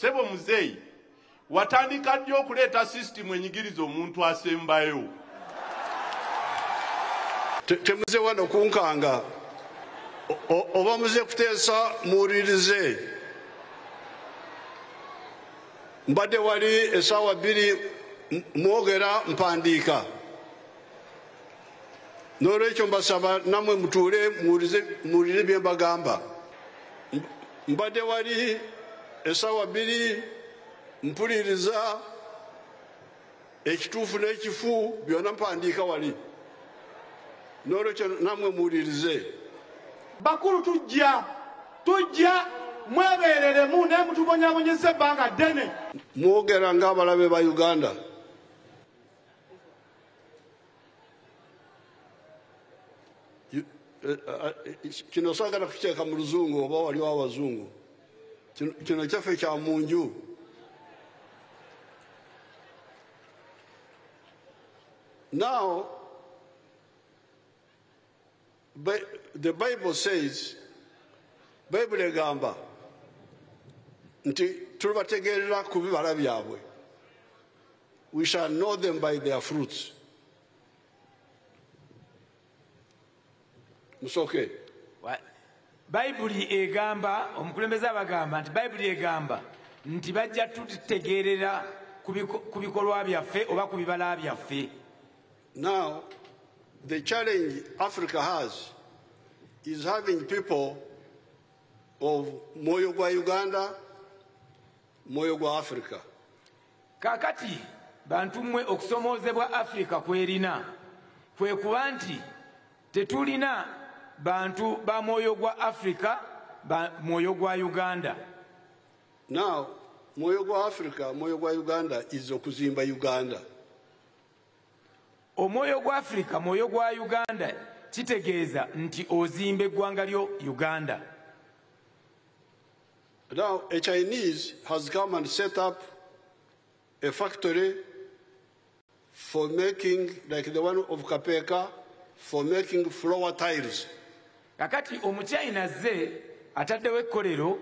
sebo muzeeyi watandika ddi okuleeta sisitimu enyigiriza omuntu asembayo temuze wano kunkanga oba muze kuteesa muwulirize mbadde wali esaawa bbiri mwogera mpandiika n'olwekyo mbasaba namwe mutuule muwulire bye mbagamba mbadde wali esaawa bbiri mpuliriza ekituufu n'ekifu byonna mpandiika wali n'olwekyo namwe muwulirize bakulu tujja tujja mwebeereremu naye mutubonyabonyeza ebbanga ddene mwogera ng'abalabe ba uganda You- eh, eh, eh, kino sagala kukiteeka mu luzungu oba waliwo abazungu Kino- kino kyaffe kya mu nju now But the Bible says, Bible egamba nti tulibategeerera ku bibala byabwe. We shall know them by their fruits. Musoke. Bayibuli egamba omukulembeze abagamba nti Bayibuli egamba nti bajja tutegeerera ku bikolwa byaffe oba ku bibala byaffe. Now, the challenge Africa has is having people of Moyo Gwa Uganda, Moyo Gwa Africa. Kakati, bantu mwe okusomoze bwa Africa kwerina, kwe kuwa nti, tetulina bantu ba Moyo Gwa Africa, ba Moyo Gwa Uganda. Now, Moyo Gwa Africa, Moyo Gwa Uganda is okuzimba Uganda. omwoyo gwa afirika mwoyo gwa uganda kitegeeza nti ozimba eggwanga lyo uganda now a chinese has come and set up a factory for making like the one of kapeka for making flower tiles kakati omuchina azze ataddewo ekkolero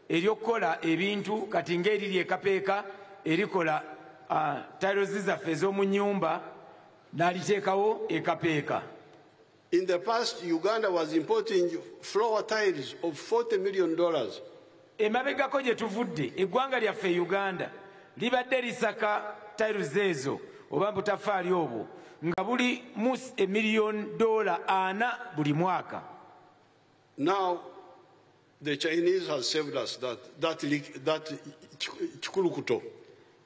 eryokukola ebintu kati ngaeriri ekapeeka erikola uh, tiles zaffe ez'omu nyumba naliteekawo ekapeeka In the past, Uganda was importing floor tiles of 40 million dollars Emabegako gye tuvudde eggwanga lyaffe e Uganda libadde lisaka tiles ezo oba butafaali obwo nga buli mus emiliyoni dola ana buli mwaka now the chinese has saved us that, that, that kikulukuto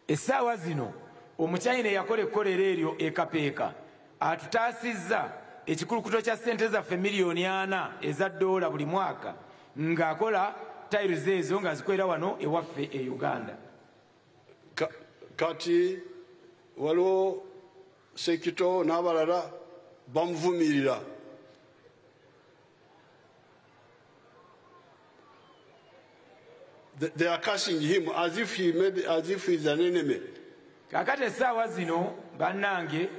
Essaawa zino omuchina eyakola ekkolero eryo e Kapeeka atutaasizza ekikulukuto kya ssente zaffe miliyoni ana eza ddoola buli mwaka ng'akola tiles ezo ng'azikolera wano ewaffe e Uganda. Kati waliwo sekito n'abalala bamuvumirira. They are cursing him as if he made, as if he's an enemy. kakati essaawa zino bannange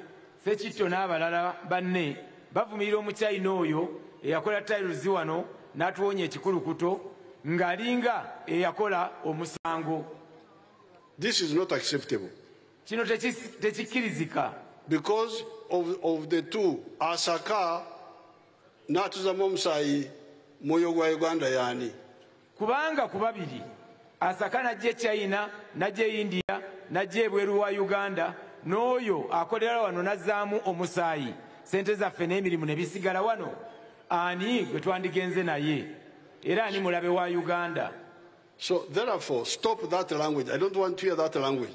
sekitto n'abalala banne bavumirira omuchina oyo eyakola tairuzi wano n'atuwonya ekikulukuto ng'alinga eyakola omusango this is not acceptable kino tekikkirizika because of, of the two asaka n'atuzamu omusaayi mwoyo gwa uganda yaani kubanga ku babiri asaka najja echina najja eindia najja ebweru wa uganda n'oyo akolera wano nazzaamu omusaayi sente zaffe n'emirimu ne bisigala wano ani gwe twandigenze naye era ani mulabe wa uganda so therefore stop that language i don't want to hear that language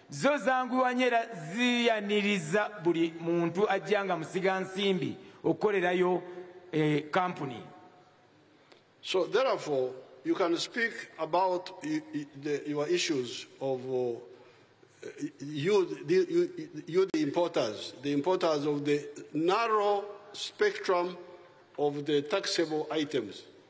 zo zanguwa nyo era ziyaniriza buli muntu ajja nga musiga nsimbi okukolerayo eh, kampuni so therefore you can speak about the, your issues of uh, you, the, you, you the importers the importers of the narrow spectrum of the taxable items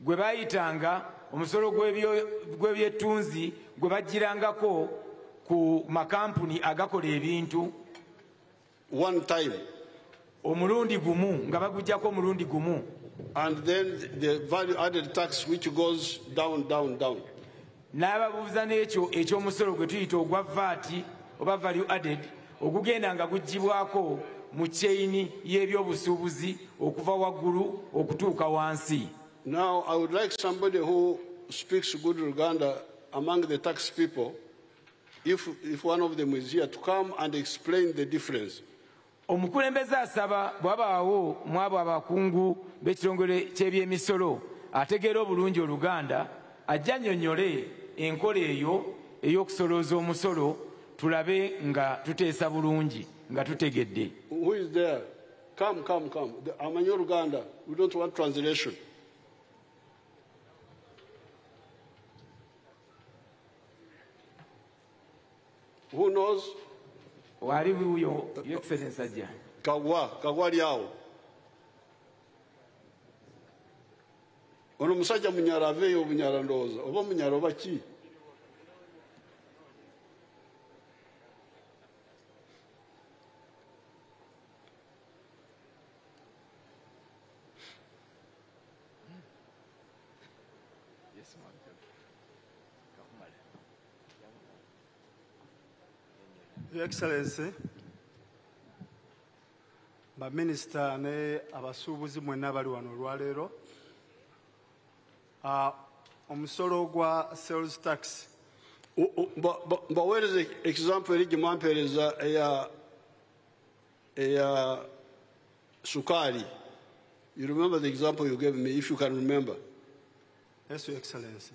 gwe baayitanga omusolo gw'ebyettunzi gwe bajjirangako ku makampuni agakola ebintu one time omulundi gumu nga bagujjako omulundi gumu and then the value added tax which goes down down down n'ababuuza n'ekyo eky'omusolo gwe tuyita ogwa vaati oba value added ogugenda nga guggyibwako mu kyeyini y'ebyobusuubuzi okuva waggulu okutuuka wansi now i would like somebody who speaks good luganda among the tax people if, if one of them is here to come and explain the difference Omukulembeze asaba bwabaawo mwabo abakungu b'ekitongole ky'ebyemisolo ategeera obulungi Oluganda ajje annyonnyole enkola eyo ey'okusolooza omusolo tulabe nga tuteesa bulungi nga tutegedde. Who is there? Come, come, come. Amanyi Oluganda. We don't want translation. Who knows? Wali wuyo your excellency ajja. Kagwa, kagwa lyawo. Ono musajja munyara aveyo obunyara ndowooza oba munyara oba ki? Your Excellency, baminisita ne abasuubuzi mwenna bali wano olwaleero ah, omusolo gwa sales tax mbaweereza example eri gye mwampeereza eya eya sukaali you remember the example you gave me if you can remember yes your excellency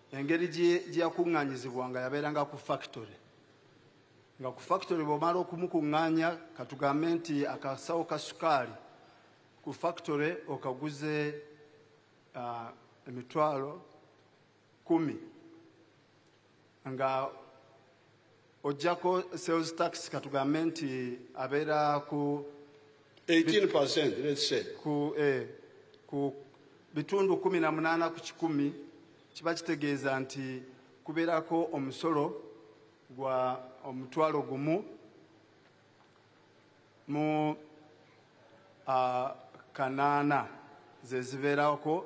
engeri gyeyakuŋŋanyizibwanga yabeeranga ku factory nga ku factory bwomala okumukuŋŋaanya katugambe nti akasawo ka sukaali ku factory okaguze uh, emitwalo kumi nga ojjako sales tax katugambe nti abeera ku 18 let's say ku eh, ku bitundu kumi na munaana ku kikumi kiba kitegeeza nti kubeerako omusolo gwa omutwalo gumu mu uh, kanaana zezibeerako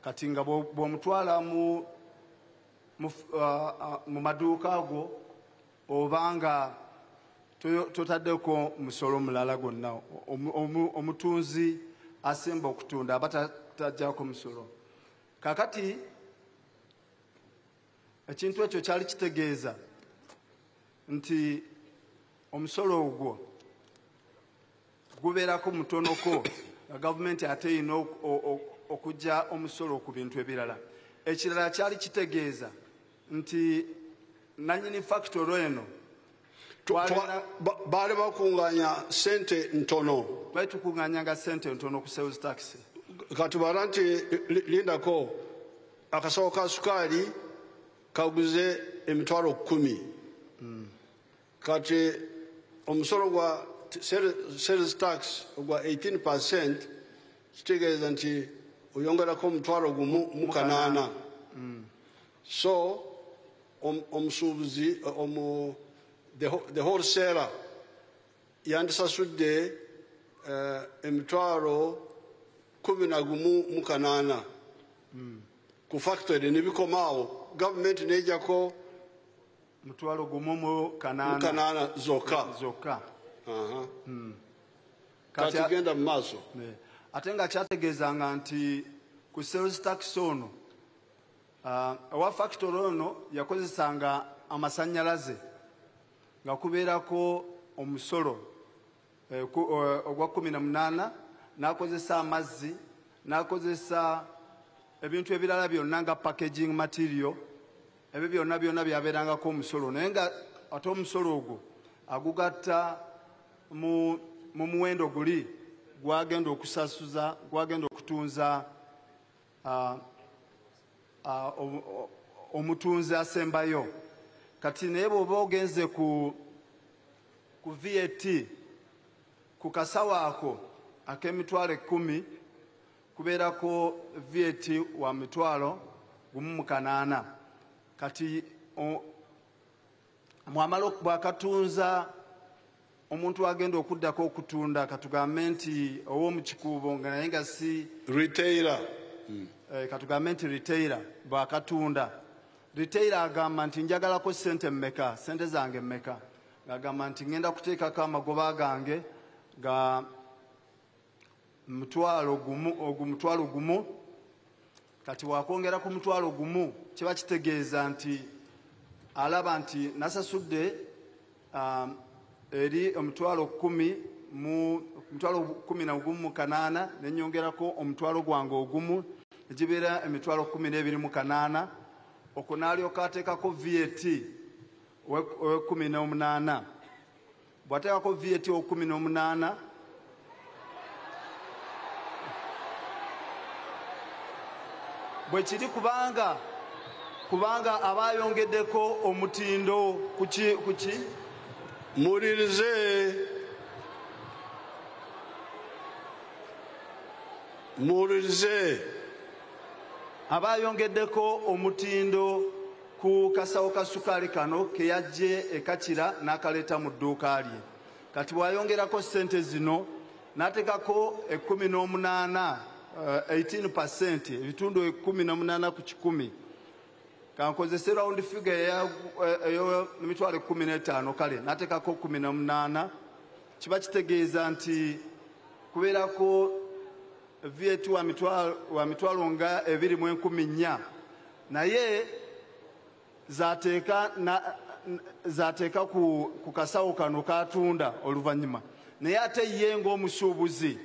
kati nga bw'omutwala mu mu uh, uh, maduuka ago oba nga totaddeko musolo mulala gwonna omutunzi asemba okutunda aba tajjako musolo kakati ekintu ekyo kyali kitegeeza nti omusolo ogwo gubeerako mutonoko nga gavumenti ate erina okujja omusolo ku bintu ebirala ekirala kyali kitegeeza nti nanyini fakitoro eno baali bakunganya sente ntono baali tukunganyanga sente ntono ku sales tax katubala nti lindako akasawo ka sukaali kaguze emitwalo kumi mm. kati omusolo gwa sales tax ogwa 18 percent kitegeeza nti oyongerako omutwalo gumu mu kanaana mm. so omusuubuzi omu the wholesaler yandisasudde eh, emitwalo kumi na gumu mu kanaana mm. ku factory ne bikomaawo gavumenti nejako mutwalo gumu mu kanaana zokka zokka hmm. kati genda mu maaso ate nga kyategeezanga nti ku sales tax ono ah, owa uh, factory ono yakozesanga amasanyalaze nga kubeerako omusolo Eh, eh, ogwa kumi na munaana n'akozesa amazzi n'akozesa ebintu ebirala byonna nga packaging material ebyo byonna byonna byabeerangako omusolo naye nga ate omusolo ogwo agugatta mu muwendo guli gwagenda okusasuza gwagenda okutunza ah, ah, omutunzi asembayo kati naye bw'oba ogenze ku ku vat ku kasawo ako ak'emitwalo ekkumi kubeerako vat wa mitwalo gumu mu kanaana kati mwamala bwakatunza omuntu agenda okuddako okutunda katugambe nti ow'omukikuubo nga naye nga si retaila mm. eh, katugambe nti retaila bwakatunda Retail agamba nti njagalako sente mmeka, sente zange mmeka. Agamba nti ngenda kuteekako amagoba gange ga mutwalo gumu ogu mutwalo gumu kati wakwongera ku mutwalo gumu kiba kitegeeza nti alaba nti nasasudde um, eri omutwalo kumi mu omutwalo kumi na gumu mu kanaana ne nyongerako omutwalo gwange ogumu egibeera emitwalo kumi n'ebiri mu kanaana okwo n'alyoka ateekako vat owekumi n'omunaana bw'ateekako vat owekumi n'omunaana bwe kiri kubanga kubanga aba ayongeddeko omutindo kuki kuki mulirize mulirize aba ayongeddeko omutindo ku kasawo ka sukaali kano ke yaggye ekakira n'akaleeta mu dduuka lye kati bwayongerako sente zino natekako ekumi n'omunaana 18 eh, percent ebitundu ekumi n'omunaana ku kikumi kankozese round figure eyomitwalo eh, ekumi n'etaano kale natekako kumi n'omunaana kiba kitegeeza nti kubeerako viet wa mitwalo nga ebiri mu enkumi nnya naye zateeka ku kasawo kano katunda oluvannyuma naye ate ye ng'omusuubuzi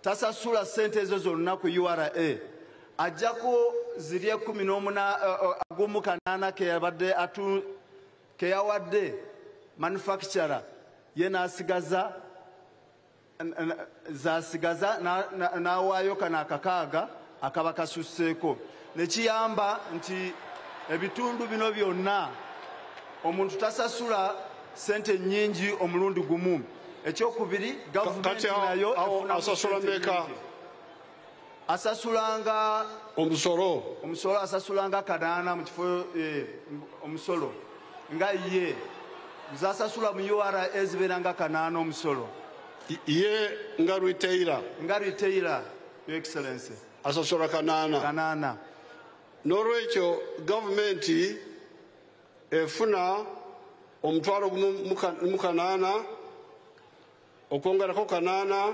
tasasula sente ezo zonna ku ura ajjako ziri ekumi n'omunagumu eh, eh, kanaana keyabadde atu keyawadde manufacturer ye n'asigaza zasigaza n'awaayo kano akakaaga akaba kasusseeko ne kiyamba nti ebitundu bino byonna omuntu tasasula sente nyingi omulundi gumu ekyokubiri gavumenti nayo asasula meka asasulanga omusolo omusolo asasulanga kadaana mu kifo eh, omusolo nga ye zasasula mu ura ezibeera nga kanaana omusolo ye nga retaila nga retaila yo excellency asasula kanaana kanaana n'olwekyo gavumenti efuna omutwalo gumu mu kanaana okwongerako kanaana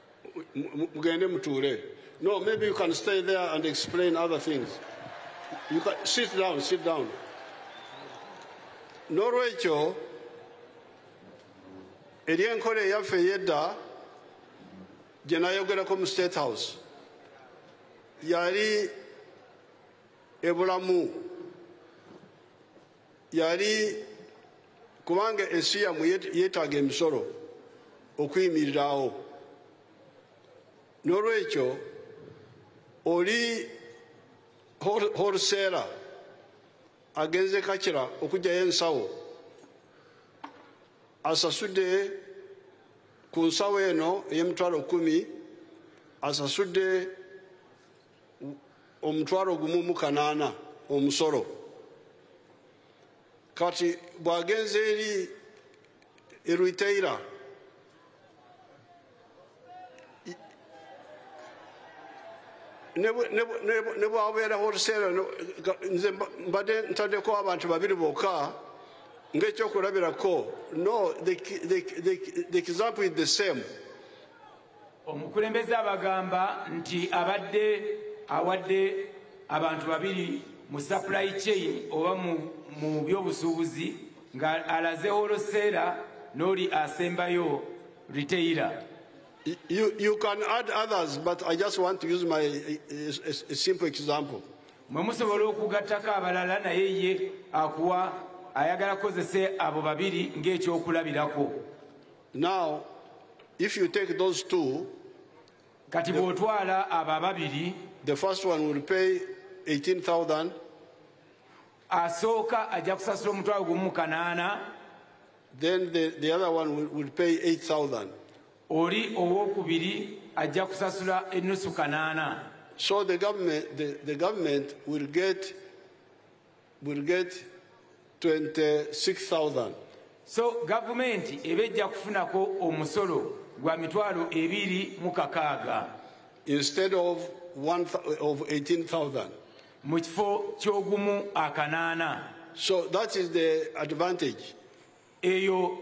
mugende mutuule no maybe you can stay there and explain other things you can, sit down sit down n'olwekyo eri enkola eyaffe eyedda gye nayogerako mu state house yali ebulamu yali kubanga ensi yamwe yeetaaga emisolo okuyimirirawo n'olwekyo oli horuseera agenze kakira okugyayo ensawo asasudde ku nsawo eno ey'emitwalo kumi asasudde omutwalo gumu mu kanaana omusolo kati bw'agenze eri eruiteira ne bwabeeraho oluseera nze mbadde ntaddeko abantu babiri bokka ng'ekyokulabirako no the example is the same Omukulembeze abagamba nti abadde awadde abantu babiri mu supply chain oba mu byobusuubuzi nga alaze holoseera n'oli asembayo retailer You, you can add others, but I just want to use my a, a, a simple example. mwe musobola okugattako abalala naye ye akuwa ayagala kukozesa abo babiri ng'ekyokulabirako Now, if you take those two, kati bw'otwala abo ababiri the first one will pay 18000 asooka ajja kusasula omutwalo gumu mu kanaana then the, the other one will, will pay 8000 oli owokubiri ajja kusasula ennusu kanaana so the government, the, the government will get will get 26000 so gavumenti eba ejja kufunako omusolo gwa mitwalo ebiri mu kakaaga instead of, one, of 18000 mu kifo ky'ogumu akanaana so that is the advantage eyo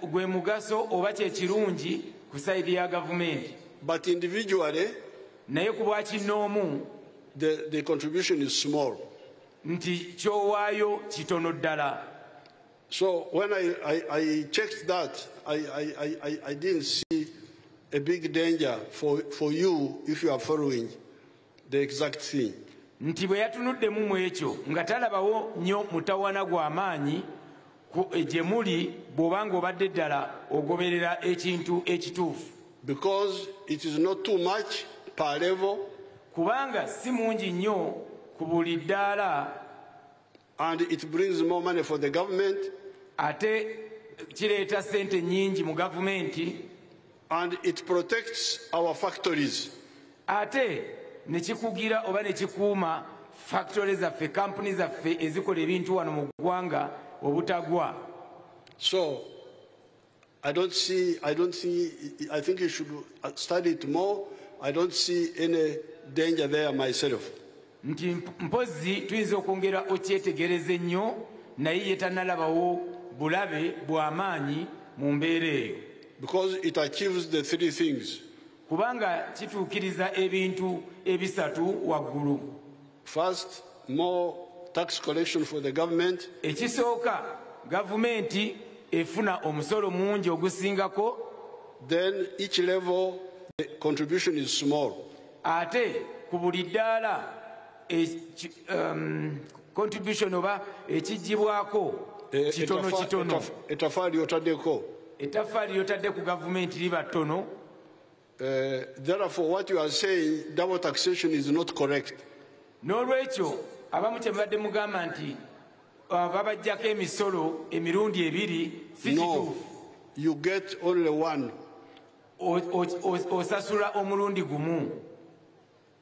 gwe mugaso oba kyekirungi ku saidi ya gavumenti but individually naye ku bwakinnoomu the, the contribution is small nti kyowaayo kitono ddala so when i, I, I checked that I, I, I, i didn't see a big danger for, for you if you are following nti bwe yatunuddemu mu ekyo nga talabawo nnyo mutawana gwa maanyi e, gye muli bw'oba ng'obadde ddala ogoberera ekintu ekituufu kubanga si mungi nnyo ku buli ddaala and it brings more money for the government ate kireeta sente nyingi mu gavumenti and it protects our factories ate nekikugira oba nekikuuma factory zaffe kampuni zaffe ezikola ebintu wano mu ggwanga obutagwa so I don't see, I don't see, I think you should uh, study it more. I don't see any danger there myself. nti mpozi tuyinza okwongera okyetegereze nnyo naye ye tanalabawo bulabe bw'amaanyi mu mbeera eyo because it achieves the three things kubanga kituukiriza ebintu ebisatu waggulu First, more tax collection for the government. Ekisooka gavumenti efuna omusolo mungi ogusingako. Then each level the contribution is small. Ate ku buli ddaala e, um, contribution oba ekigibwako e, kitono kitono. Etafaali otadeko. Etafaali otadde ku gavumenti liba tono. Uh, therefore what you are saying double taxation is not correct. N'olwekyo abamu kye mubadde mugamba nti uh, babajjako emisolo emirundi ebiri si kituufu. You get only one. Osasula omulundi gumu.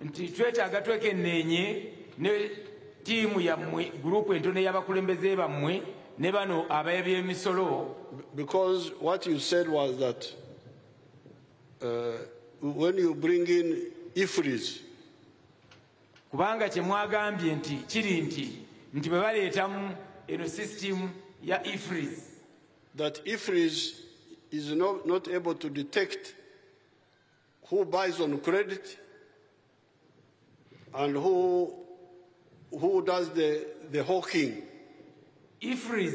nti twetaaga twekenneenye ne ttiimu yammwe gurupu entono y'abakulembeze bammwe ne bano abeebyemisolo because what you said was that uh, when you bring in ifris kubanga kye mwagambye nti kiri nti nti bwe baleetamu eno system ya ifris that ifris is not, not able to detect who buys on credit and who, who does the, the hawking. Ifriz,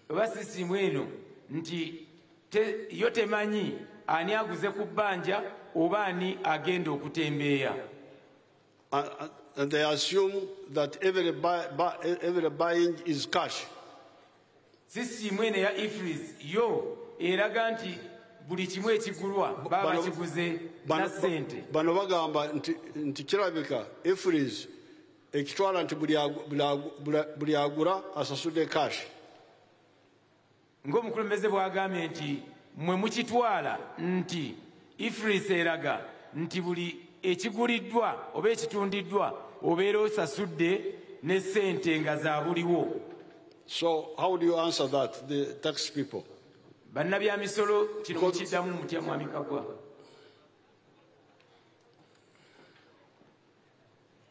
oba sisimu eno nti te, yo temanyi ani aguze ku bbanja oba ani agenda okutembeeya and they assume that every, buy, buy, every buying is cash Sisitiimu eno eya Ifriz yo eraga nti buli kimu ekigulwa baba bakiguze na ssente. Bano bagamba nti kirabika Ifriz ekitwala nti buli agula asasude cash. Ng'omukulembeze bw'agambye nti mwe mukitwala nti ifris eraga nti buli ekiguliddwa oba ekitundiddwa obeera osasudde ne sente nga zabuliwo so how do you answer that the tax people bannabyamisolo kino mukiddamu mutya mwamikagwa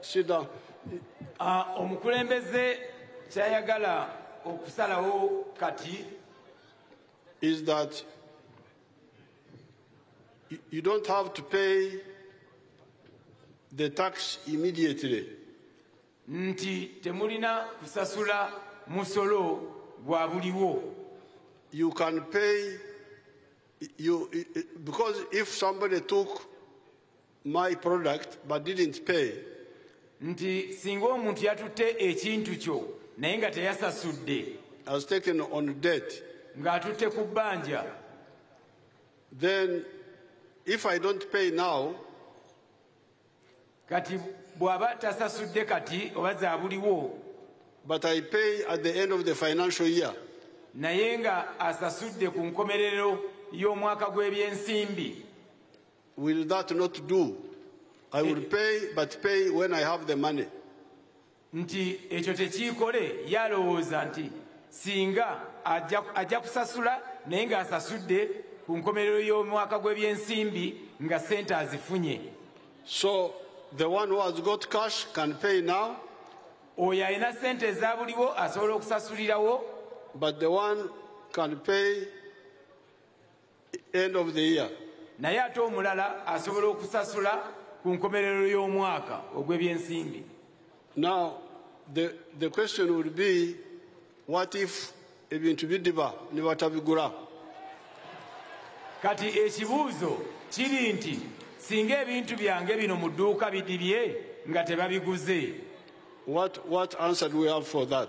sida omukulembeze kyayagala okusalawo kati is that you don't have to pay the tax immediately nti temulina kusasula musolo gwa buliwo you can pay you because if somebody took my product but didn't pay nti singa omuntu yatutte ekintu kyo naye nga teyasasudde has taken on debt ng'atutte ku bbanja then if i don't pay now kati bw'aba tasasudde kati oba zabuliwo but i pay at the end of the financial year naye nga asasudde ku nkomerero y'omwaka gw'ebyensimbi Will that not do? I will eh. pay but pay when I have the money. Nti ekyo tekiikole yalowooza nti singa ajja kusasula naye ng'asasudde ku nkomerero y'omwaka gw'ebyensimbi nga sente azifunye. So the one who has got cash can pay now. Oyo alina sente eza buliwo asobola okusasulirawo. But the one can pay end of the year naye ate omulala asobola okusasula ku nkomerero y'omwaka ogw'ebyensimbi now the, the question would be what if ebintu bidiba ne batabigula kati ekibuuzo kiri nti singa ebintu byange bino mu dduuka bidibye nga tebabiguze what, what answer do we have for that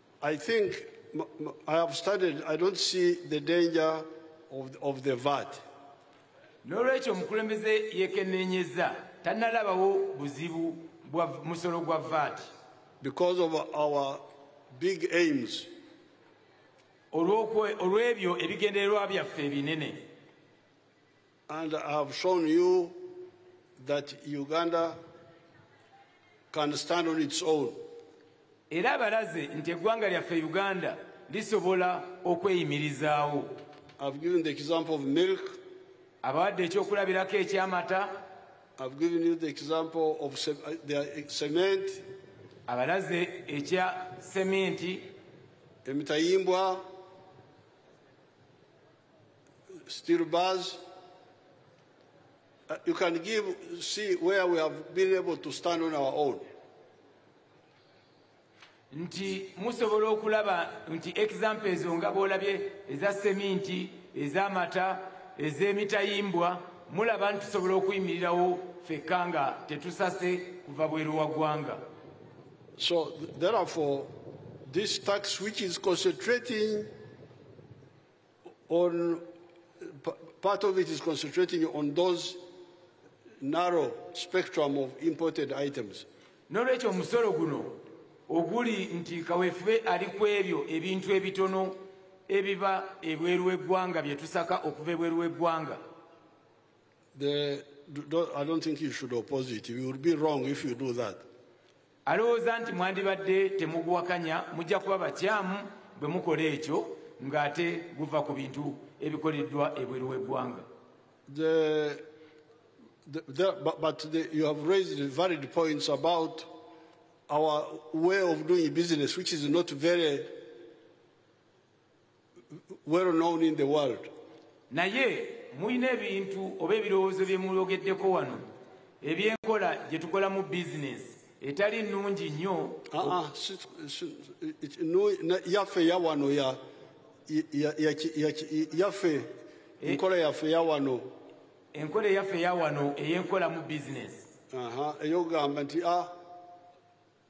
I think I have studied, I don't see the danger of, of the VAT. N'olwekyo omukulembeze yeekenneenyezza tannalabawo buzibu bwa musolo gwa VAT. Because of our big aims. Olw'ebyo ebigendererwa byaffe ebinene. And I have shown you that Uganda can stand on its own. Era balaze nti eggwanga lyaffe Uganda lisobola okweyimirizaawo. I've given the example of milk. Abawadde ekyokulabirako eky'amata. I've given you the example of uh, the uh, cement. Abalaze ekya cement. Emitayimbwa. steel bars. Uh, you can give, see where we have been able to stand on our own. nti musobola okulaba nti example ezo nga bwolabye eza seminti ez'amata ez'emitayimbwa mulaba nti tusobola okuyimirirawo fekka nga tetusase kuva bweru wa ggwanga so therefore this tax which is concentrating On, part of it is concentrating on those narrow spectrum of imported items. Nolwekyo omusolo guno oguli nti kawefube ali ku ebyo ebintu ebitono ebiba ebweru w'eggwanga bye tusaka okuva ebweru w'eggwanga I don't think you should oppose it. You would be wrong if you do that. alowooza nti mwandibadde temuguwakanya mujja kuba bakyamu bwe mukola ekyo ng'ate guva ku bintu ebikoleddwa ebweru w'eggwanga but the, you have raised valid points about our way of doing business which is not very well known in the world naye mulina ebintu oba ebirowoozo bye muyogeddeko wano ebyenkola gye tukolamu bizinesi etali nnungi nnyo ah, ah, yaffe yawano yaffe eh. enkola yaffe yawano enkola eyaffe yawano eyenkolamu bizinesi eyogamba nti a ah,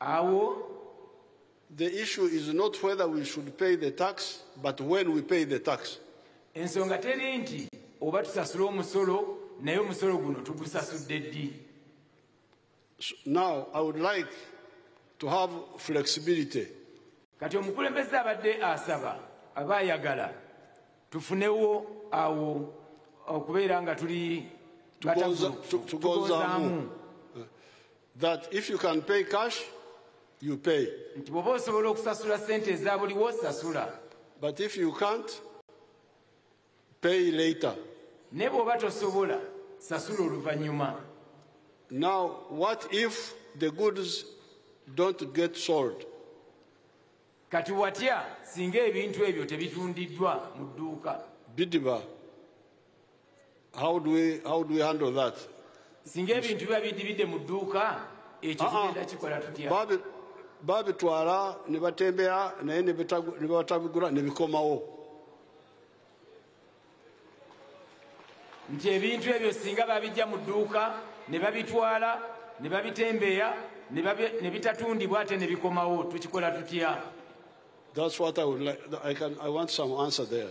Awo the issue is not whether we should pay the tax but when we pay the tax. Ensonga teri nti oba tusasula omusolo naye omusolo guno tugusasudde ddi. Now I would like to have flexibility. Kati omukulembeze abadde asaba aba ayagala tufunewo awo okubeera nga tuli tugonzaamu that if you can pay cash you pay nti bwoba osobola okusasula sente eza buliwo sasula but if you can't pay later ne bwoba tosobola sasula oluvannyuma now what if the goods don't get sold Kati watya singa ebintu ebyo tebitundiddwa mu dduuka? Bidiba. How do we, how do we handle that? Singa ebintu biba bidibidde mu dduuka ekyo ah, ah. kigenda kikola tutya? Babitwala ne batembeya naye ne batabigula ne bikomawo. nti ebintu ebyo singa babijja mu dduuka ne babitwala ne babitembeya ne bitatundibwa ate ne bikomawo tukikola tutya That's what I would like. I can. I want some answer there.